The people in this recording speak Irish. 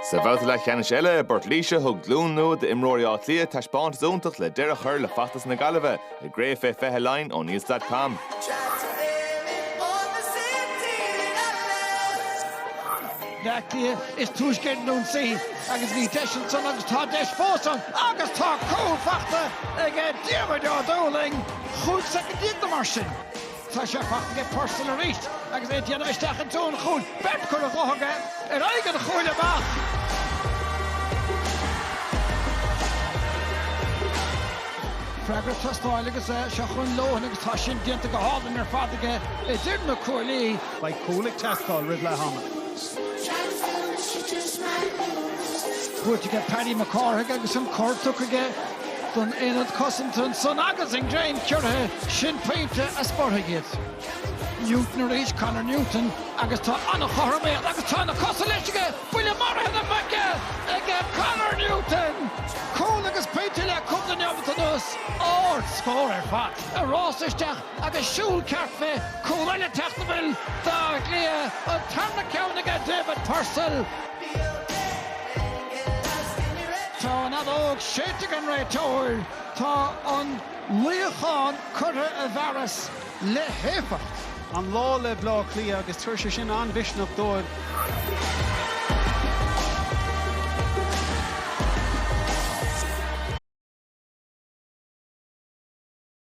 Sa bhabhta leathcheannais eile i bPort Laoise, thug glúin nua d'imreoirí Átha Cliath taispeántas iontach le deireadh a chur le feachtas na Gaillimhe, i gCraobh faoi Fiche Laighean oneills.com. Bleá Cliath is túisce ar an ionsaí agus bhí deis ansan agus tá deis fós ann agus tá cúl fachta aige Diarmuid Ó Dúlaing, chúig soicind déag nó mar sin. Tá sé fachta ag Purcell arís agus é ag déanamh isteach i dtreo an chúil. Beirt cúl a ghnóthódh é ar aghaidh an chúil amach. Freagra ag teastáil agus seo chugainn Lohan agus tá sin déanta go hálainn ar fad aige idir na cuaillí. Beidh cúl ag teastáil roimh leath ama. Buaite aige Paddy Mac Cárthaigh agus an cor tugtha aige don aonad cosanta ansan agus an greim giorraithe sin pointe a spreagfaidh iad. Newton arís, Conor Newton agus tá an chothromaíocht agus tá na cosa leis aige, buille maraithe na muice ag Conor Newton! Cúl agus pointe le cúpla neomat anuas, ardscór ar fad. Ag rás isteach agus siúl ceart fé, cúl eile teacht a bhfuil d'Áth Cliath, an tarna ceann aige David Purcell. Tá an fheadóg séidte ag an réiteoir. Tá an luíochán curtha i bhfearas le héifeacht. an lá le Bleá Cliath agus tabharfaidh sé sin an-mhisneach dóibh.